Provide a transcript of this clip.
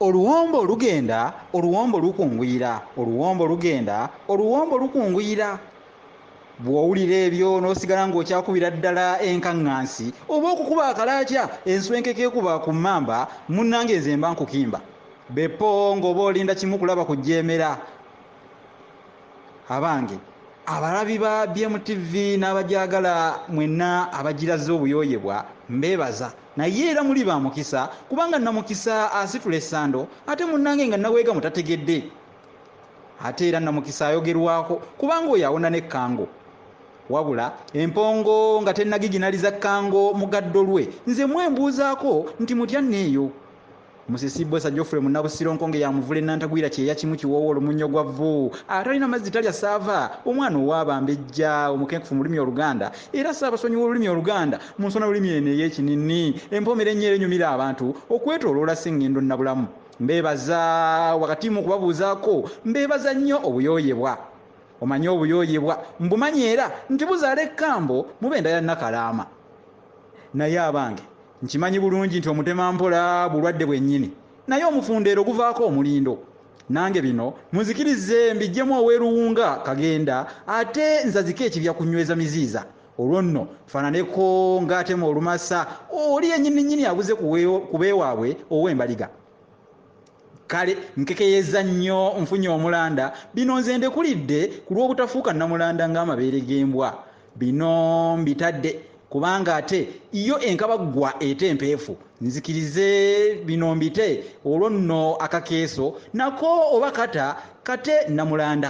oluwombo lugenda oluwombo lukunguyira oluwombo lugenda oluwombo lukunguyira bw'owulira ebyo n'osigala ng'okyakubira ddala enkaŋŋansi oba okukuba akalaakya enswenkeka ekuba ku mmamba munnange nze mba nkukimba beppo ng'oba olinda kimu kulaba ku jjeemera abange abalabi ba bmtv n'abagyagala mwenna abagiraze obuyooyebwa mbeebaza naye era muli ba mukisa kubanga namukisa asitula essando ate munnange nga naweega mutategedde ate era namukisa ayogerwako kubanga oyo awona ne kango wabula empongo nga tenagiginaliza kango mugaddo lwe nze mwembuuzaako nti mutya neeyo Musisi Bwesa Geoffrey Munnabusiro Nkonge ya Muvule Nantagwira Kyeya Kimu Kiwoowo Olumunyo gwa Vvu Atalina mazzi talya ssaava Omwana ow'abambejja Omukenkufu mu lulimi Oluganda era Ssaabasonyi w'olulimi Oluganda mu nsona lulimi eno ey'ekininni Empoomera ennyo era enyumira abantu okwetooloola Ssengendo Nnabulamu Mbeebaza wakati mu kubabuuzaako Mbeebaza nnyo obuyooyebwa Omanyi obuyooyebwa mbumanyi era nti buzaala ekkambo mu b'enda ya Nakalaama. Naye abange nkimanyi bulungi nti omutema mpola bulwadde bwennyini naye omufundeero guvaako omulindo. Nange bino munzikirize mbiggyemu ow'e Luwunga Kagenda ate nzazike ekibya ku Nyweza Miziiza olwo nno nfaananeko ng'atema olumasa oli yennyinninnyini abuze ku b'ewaabwe ow'embaliga. kale nkekeyeza nnyo nfunye omulanda bino nze ndekulidde ku lw'obutafuuka namulanda ng'amabeere g'embwa bino mbitadde kubanga ate iyo enkabaggwa ete empeefu nzikirize bino mbite olwo nno akakeeso nako oba kata kate namulanda